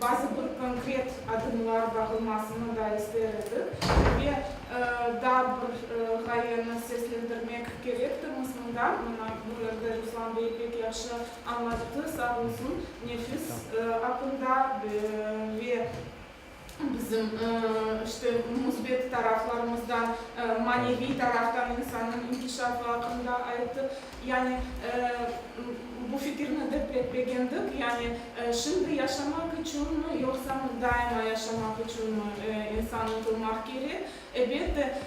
bazı bir konkret adımlar bağılmasını da ister edik ve daa bir ğayeni seslendirmek kerektirmiz mında, mına bu yerde Ruslan bey pek yahşı añlattı, sağ olsun, nefis aqqında ve bizim, işte, müsbet taraflarımızdan, maneviy taraftan insannıñ inkişafı aqqında ayttı. Yani, bu fikirni de pek begendik. Yani, şimdi yaşamaq içünmi, yoqsa daima yaşamaq içünmi insan ıntılmaq kerek? Elbette,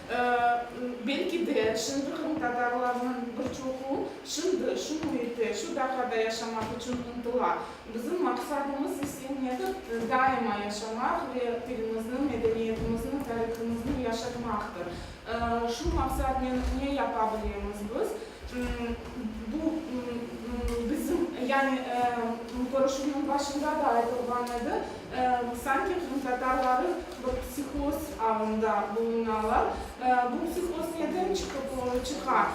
belki de, şimdi qırımtatarlarnıñ bir çoqu şimdi şu müitte, şu daqada yaşamaq içün ıntıla. Bizim maqsadımız ise nedir? Daima yaşamaq ve tilimizni, medeniyetimizni, tarihımıznı yaşatmaqtır. Şu maqsadnen ne yapa bilemiz biz? Bu, bizim, yani, körüşüvniñ başında da aytılğan edi, sanki qırımtatarları bir psihoz alında bulunalar. Bu psihoz neden çıqıp çıqa?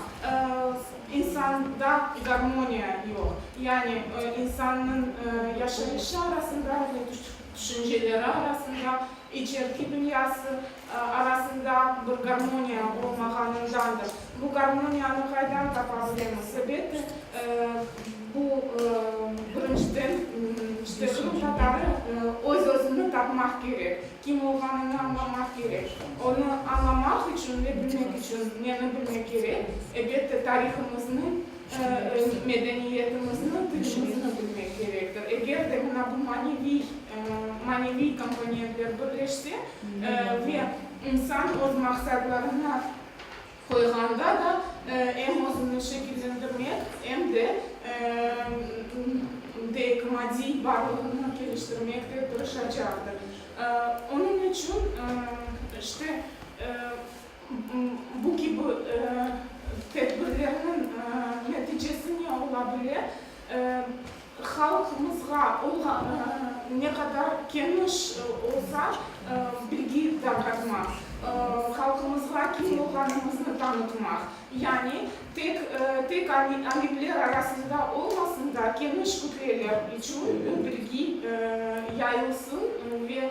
İnsanda garmoniya yoq. Yani, insannıñ yaşayışı arasında ve tüşünceleri arasında, içerki dünyası, arasında bir garmoniya olmağanındandır. Bu garmoniyanı qaydan tapa bilemiz? Elbette, bu, birinciden, işte, qırım tatarı öz-özüni tapmaq kerek, kim olğanını añlamaq kerek. Onı añlamaq içün ve bilmek içün neni bilmek kerek? Elbette, tarihımıznıñ Öz medeniyetimizni, tilimizni bilmek kerektir. Eger de mına bu maneviy, maneviy komponentler birleşse, ve insan öz maqsadlarına qoyğanda da em özüni şekillendirmek, em de deyik, maddiy varlığını keliştirmekte tırışacaqtır. Onıñ içün, işte, Bu kibi tedbirlerniñ neticesi ne ola bile? Halqımızğa olğan ne qadar keniş olsa, bilgi tarqatmaq, halqımızğa kim olğanımıznı tanıtmaq, yani tek tek alimler arasında olmasın da, keniş kütleler içün bu bilgi yayılsın ve